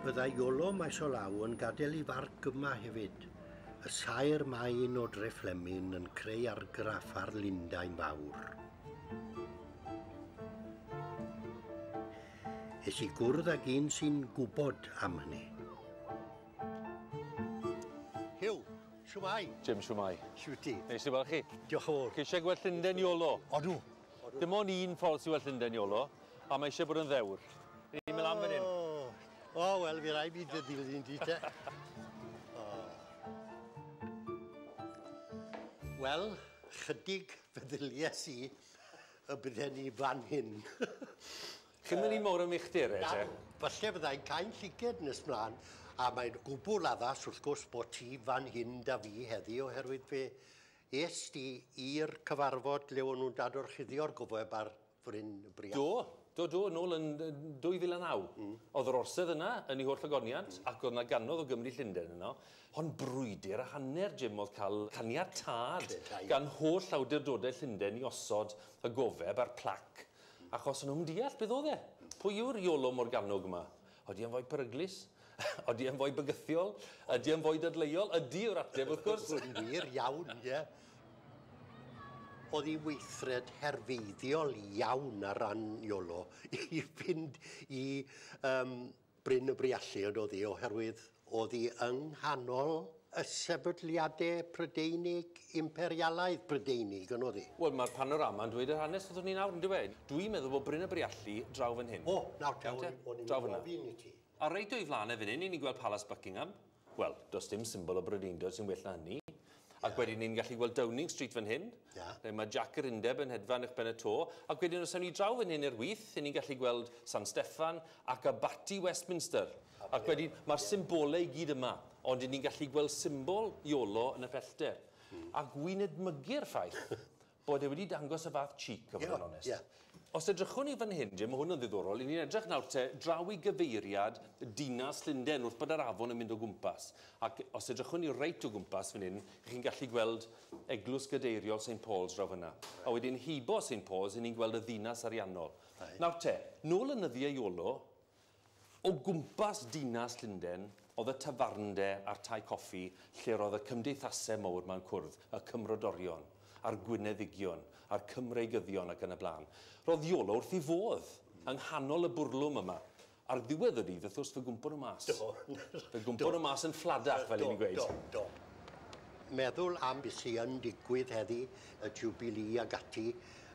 Byddai Iolo maes o law yn gadael ei farc yma hefyd. Y saer main o Dreflemin yn creu argraff ar Lundain Fawr. Es i gwrdd ag un sy'n gwybod am hynny. Hiw, siwmai. Jim, siwmai. Siwti. Neis i weld chi. Diolch o fawr. Chi eisiau gweld Llundain Iolo? Odw. Dim ond un ffordd sydd well Llundain, Iolo, a mae eisiau bod yn ddewr. Rydyn ni'n mynd lan fan hyn. O, oh, wel, fi rai fi dy ddilyn di te. Oh. Wel, chydig feddylies i y bydden ni fan hyn. Chi'n mynd i mor yn uchder e, te? Falle fyddai'n cael lliced nes mlaen, a mae'n gwbl addas wrth gwrs bod ti fan hyn da fi heddi oherwydd fe Es di i'r cyfarfod lle o'n nhw'n dadorchuddio'r gofeb ar Fryn y Brian? Do, do, do, nôl yn 2009. Mm. Oedd yr orsedd yna yn ei holl agoniant, mm. ac oedd yna ganodd o Gymru Llundain yno. Hon brwydr a hanner, Jim, oedd cael caniatad gan holl awdurdodau Llundain i osod y gofeb a'r plac, achos o'n nhw'n deall beth oedd e. Pwy yw'r Iolo Morganwg yma? Odi e'n foi peryglus? Odi e'n foi bygythiol? Ydi e'n foi dadleuol? Ydi yw'r ateb, wrth gwrs. Yn wir iawn, ie. Oedd hi weithred herfeiddiol iawn ar ran Iolo i fynd i um, Bryn y Briallu, yn oedd hi, oherwydd Oddi yng nghanol y sefydliade Prydeinig, imperialaidd Brydeinig, yn oddi. Wel, mae'r panorama yn dweud yr hanes wrthwn ni nawr, yn dyw e? Dwi'n meddwl bod Bryn y Briallu draw fan hyn. O, nawr te, o'n i'n gofyn i ti. A reit o'i flan e fan hyn, 'yn ni'n gweld Palas Buckingham. Wel, does dim symbol o Brydeindod sy'n well na hynny. Ac wedyn ni'n gallu gweld Downing Street fan hyn, lle mae Jac yr Undeb yn hedfan uwch ben y to. Ac wedyn os awn ni draw fan hyn i'r wyth, 'yn ni'n gallu gweld San Steffan ac abaty Westminster. Ac wedyn, mae'r symbolau i gyd yma, ond 'yn ni'n gallu gweld symbol Iolo yn y pellter. A wi'n edmygu'r ffaith bod e wedi dangos y fath cheek, a bod yn onest. Os edrychwn ni fan hyn, Jim, mae hwn yn ddiddorol, 'yn ni'n edrych nawr te draw i gyfeiriad dinas Llundain wrth bod yr afon yn mynd o gwmpas. Ac os edrychwn ni reit o gwmpas fan hyn, chi'n gallu gweld eglwys gadeiriol Saint Paul's draw fan'na. A wedyn heibio Saint Paul's, 'yn ni'n gweld y ddinas ariannol. Nawr te, nôl yn nyddiau Iolo, O gwmpas dinas Llundain oedd y tafarnde a'r tai coffi lle roedd y cymdeithase mowr ma'n cwrdd, y cymrodorion, a'r gwyneddigion, a'r cymreigyddion ac yn y blaen. Roedd Iolo wrth i fodd! Yng nghanol y bwrlwm yma. Ar ddiwedd y dydd, wrth gwrs, fe gwmpo nhw mas. Do. Fe gwmpo nhw mas yn ffladach, fel 'yn ni'n gweud. Do, do, do. Meddwl am be sy yn digwydd heddi, y Jiwbilî ag ati.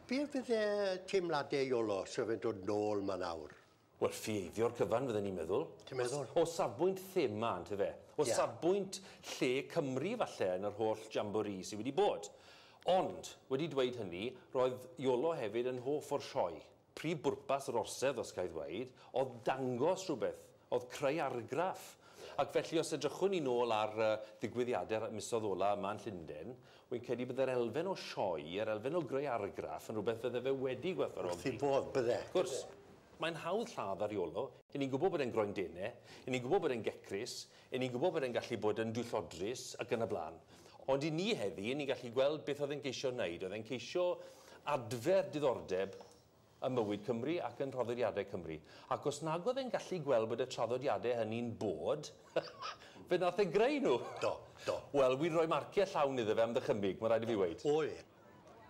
Be fydde teimlade Iolo 'sa fe'n dod nôl 'ma nawr? Wel, ffieithio'r cyfan, fydden i'n meddwl. Ti'n meddwl? O, o safbwynt thema, ynte fe? O yeah. safbwynt lle Cymru, falle, yn yr holl jamboree sydd wedi bod. Ond, wedi dweud hynny, roedd Iolo hefyd yn hoff o'r sioe. Prif bwrpas yr orsedd, os ga i ddweud, oedd dangos rhywbeth, oedd creu argraff. Ac felly, os edrychwn ni nôl ar ddigwyddiadau'r misoedd ola yma yn Llundain, Wi'n credu bydde'r elfen o sioe, yr elfen o greu argraff yn rhywbeth fydde fe wedi gwerthfawrogi. Wrth ei bodd, bydde. Wrth gwrs. Mae'n hawdd lladd ar Iolo. 'yn ni'n gwybod bod e'n groen dene, 'yn ni'n gwybod bod e'n gecrus, 'yn ni'n gwybod bod e'n gallu bod yn dwyllodrus ac yn y blaen. Ond i ni heddi, 'yn ni'n gallu gweld beth oedd e'n ceisio wneud, oedd e'n ceisio adfer diddordeb ym mywyd Cymru ac yn rhoddediadau Cymru, ac os nag oedd e'n gallu gweld bod y traddodiadau hynny'n bod, fe wnaeth e greu nhw! Do, do. Wel, wi'n rhoi marciau llawn iddo fe am ddychymyg, mae'n rhaid i fi weud. O, ie.